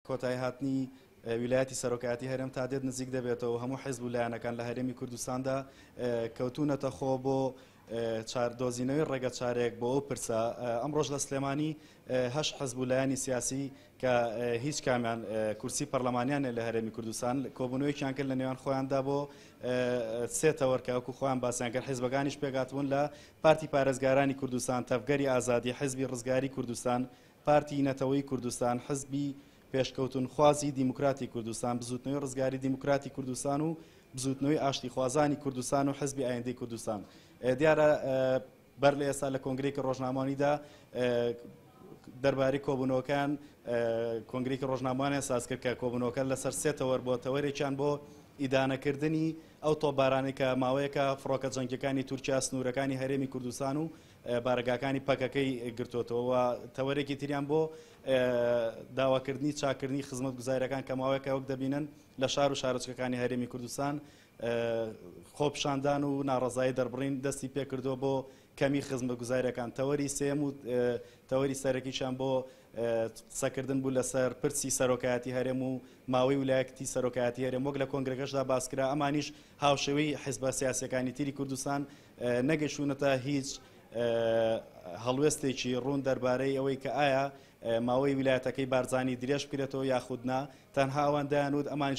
کۆتایهاتنی ویلایەتی سەرۆکایەتی هەرێم تا دێت نزیک دەبێتەوە و هەموو حیزب و لایەنەکان لە هەرێمی کوردستاندا کەوتوونەتە خۆ بۆ چاردۆزینەوەی ڕێگە چارێک بۆ ئەو پرسە ئەمڕۆژ لە سلێمانی هەش حەزب و لایەنی سیاسی کە هیچ کامیان کورسی پەرلەمانیان لە هەرێمی کوردستان کۆبوونەوەیان کرد لە نێوان خۆیاندا بۆ سێتەوەرکەوەکو خۆیان باسییان کرد حیزبەکانیش پێگاتبوون لە پارتی پارێزگارانی کوردستان تەفگەری ئازادی حیزبی ڕزگاری کوردستان پارتی نەتەوەیی کوردستان، حزبی پێشکەوتنخوازی دیموکراتی کوردستان، بزوتنەوەی ڕزگاری دیموکراتی کوردستان و بزوتنەوەی ئاشتیخوازانی کوردستان و حزبی ئایندەی کوردستان دیارە بەر لە ئێستا لە کۆنگرێکی ڕۆژنامانیدا دەربارەی کۆبوونەوەکان کۆنگرێکی ڕۆژنامانیان ساز کرد کە کۆبوونەوەکە لەسەر سێ تەوەر بۆ تەوەرێکیان بۆ ئیدانەکردنی ئەو تۆبارانێکە ماوەیەکە فڕۆکە جەنگەکانی تورکیا سنوورەکانی هەرێمی کوردستان و بارەگاکانی پەکەکەی گرتۆتەوە و تەوەرێکی تریان بۆ داواکردنی چاکردنی خزمەت گوزارەکان کە ماوەیەکە وەک دەبینن لە شار و شارۆچکەکانی هەرێمی کوردستان خۆپشاندان و ناڕزایی دەربڕین دەستی پێکردو بۆ کەمی خزمە گوزارەکان تەوەری سێم و تەوەری سەرەکیشان بۆ قسەکردن بوو لەسەر پرسی سەرۆکایەتی هەرێم و ماوەی ولایەتی سەرۆکایەتی هەرێم وەک لە کۆنگرەکەشدا باسکرا ئەمانیش هاوشێوەی حزبە سیاسەکانی تری کوردستان نەگەشتوونەتە هیچ هەڵوێستێکی ڕوون دەربارەی ئەوەی کە ئایا ماوەی ویلایەتەکەی بارزانانی درێژ بکرێتەوە یاخود نا تەنها ئەوان دایانوت ئەمانش